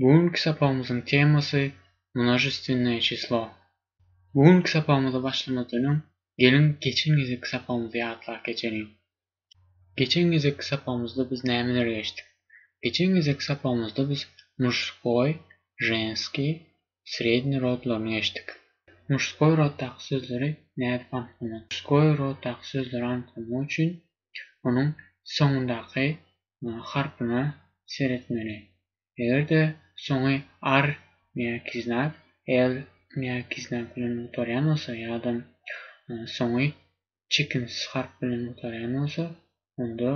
Bu günki sapagymyzyň temasy Množestvennoe çislo. Bu günki sapagymyza başlamazdan öň, geliň geçen gezekki sapagymyzy ýatlap geçeliň. Geçen gezekki sapagymyzda biz nämeleri geçdik? Geçen gezekki sapagymyzda biz muşskoý, ženskiý, sredniý rodlaryny geçdik. Muşskoý roddaky sözleri nädip anyklamak? Muşskoý roddaky sözleri anyklamak üçin onuň soňundaky harpyna seretmeli. Eger-de soňy ar ýa-ki znak, el ýa-ki znak bilen gutarýan bolsa ýa-da soňy çekimsiz harp bilen gutarýan bolsa, onda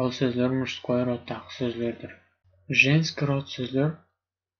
ol sözler muştskoý roddaky sözlerdir. Ženski rod sözler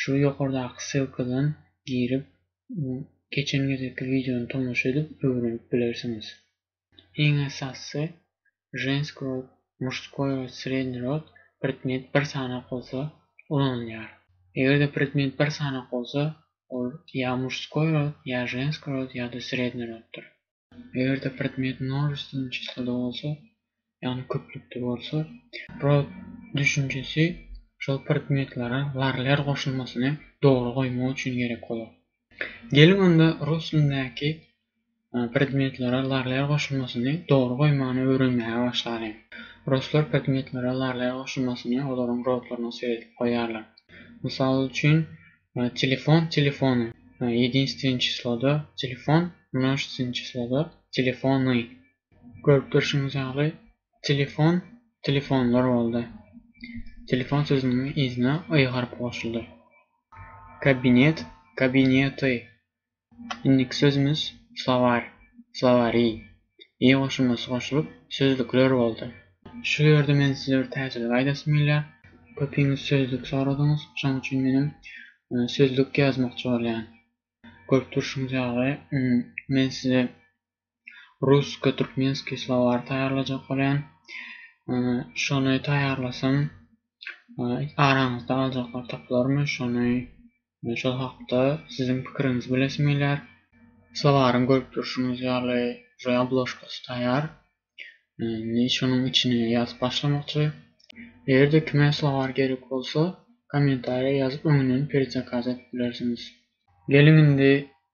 Şu ýokardaky ssylkadan girip geçen gezekki wideony tomaşa edip öwrenip bilersiňiz. Iň esasysy Žensk rod, Mužskoi rod, Srednji rod predmet bir sanak bolsa ulanylýar. Egerde predmet bir sanak bolsa ol ýa Mužskoi rod, ýa Žensk rod ýa-da Srednji roddyr. Eger-de predmet množeственnoý çyslada bolsa, ýagny köplükde bolsa, rod düşünjesi şol predmetlere varler goşulmasyny dogry goýmak üçin gerek bolar. Geliň onda rus dilindäki predmetlere varler goşulmasyny dogry goýmany öwrenmäge başlalyň. Ruslar predmetlere varler goşulmasyny olaryň rodlaryna seredip goýýarlar. Mysal üçin, Telefon Telefony Ýedinstwen çysloda Telefon Množstwen çysloda Telefony. Görüp durşuňyz ýaly, telefon telefonlar boldy. Telefon sözüniň yzyna y harpy goşuldy. Kabinet Kabinety Indiki sözümiz slowar, slowary, y goşulmasy goşulyp, sözlükler boldy. Şu ýerde men size bir täzelik aýdasym gelýär. Köpiňiz sözlük soradyňyz. Şoň üçin menem sözlük ýazmakçy bolýan. Görüp durşuňyz ýaly, men size Rusko Türkmenski slowary taýýarlajak bolýan. Şony taýýarlasam araňyzda aljaklar tapylarmy şony şol hakda siziň pikiriňizi bilesim gelýär. Slowaryň görüp durşuňyz ýaly uje obložkasy taýýar. Indi şonuň içine ýazyp başlamakçy. Egerde kime slowar gerek bolsa kommentariýa ýazyp öňünden perzakaz edip bilersiňiz. Geliň indi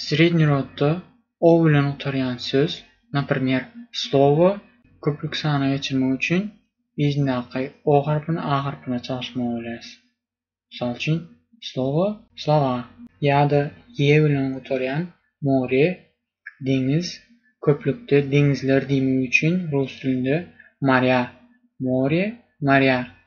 Srednýi rodda o bilen gutarýan söz, napremýer, slowo, köplük sana geçirmek üçin yzyndaky o harpyny a harpyna çalyşmaly bolýarys. Mysal üçin, slowo, slova. Ýa-da ýe bilen gutarýan more, deňiz, köplükde deňizler diýmek üçin rus dilinde morýa, more, morýa,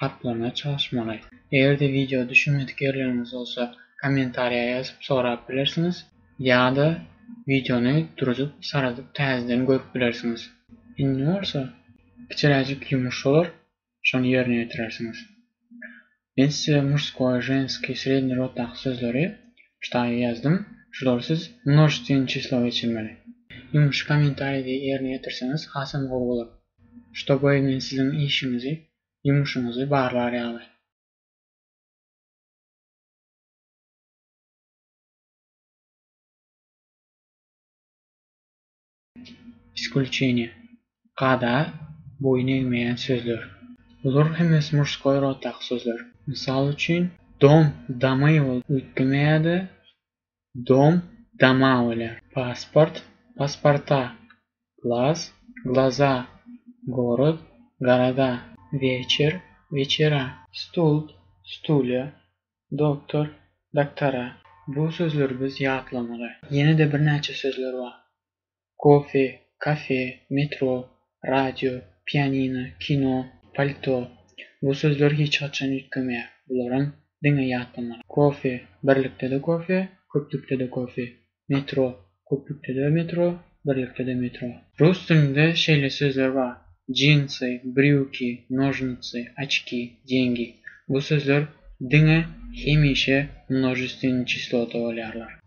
gaplamaga çalyşmaly. Eger-de wideo düşünmedik ýerleriňiz bolsa, kommentariýa ýazyp sorap bilersiňiz, ýa-da wideony duruzyp, saradyp täzeden görüp bilersiňiz. Indi bolsa kiçiräjik ýumuş bolar, şony ýerine ýetirersiňiz. Men size murskoý, ženskiý, sredniý roddaky sözleri ştaýa ýazdym, şulary siz množestweniý çislowa geçirmeli. Ýumuşy kommentariýada ýerine ýetirseňiz hasam gowy bolar. Şto goý men siziň işiňizi, ýumuşyňyzy barlar ýaly. Iskulçeniýe, kada, boýun egmeýän sözler. Bular hemmesi murskoý roddaky sözler. Mysal üçin, dom, domy ol üýtgemeýär-de, Dom, dama welä. Pasport, pasparta. Glas, glaza. Gorod, garada. Weçer, wechera. Stult, stulýa. Doktor, doktora. Bu sözleri biz ýatlamaly. Ýene-de birnäçe sözler bar. Kofe, kafe, metro, radio, pianino, kino, palto, bu sözler hiç haçan üýtgemeýär, bularam diňe ýatlamaly. Kofe, birlikde-de kofe, köplükde-de kofe, metro, köplükde-de metro, birlikde-de metro. Rus dilinde şeýle sözler bar, džinsy, brýuki, nožnitsy, oçki, deňgi, bu sözler diňe hemişe množestwenny çislota bolýarlar.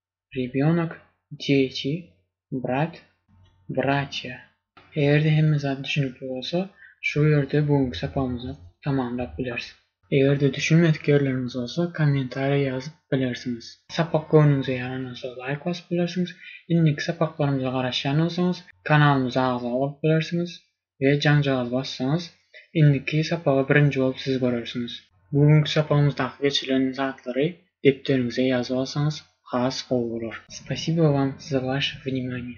Rýebýonok, Dýeti, Brat, Bratýa. Eger-de hemme zat düşünikli bolsa, şu ýerde bu günki sapagymyzy tamamlap bileris. Eger-de düşünmedik ýerleriňiz bolsa, kommentariýa ýazyp bilersiňiz. Sapak göwnüňize ýaran bolsa, laýk basyp bilersiňiz. Indiki sapaklarymyza garaşýan bolsaňyz, kanalymyza agza bolup bilersiňiz. we jaňjagaz bassaňyz, indiki sapaga birinji bolup siz görersiňiz. Bu günki sapagymyzdaky geçirilen zatlary depderiňize ýazyp alsaňyz has gowy bolar. Spasibo wam za waše vnimaniye.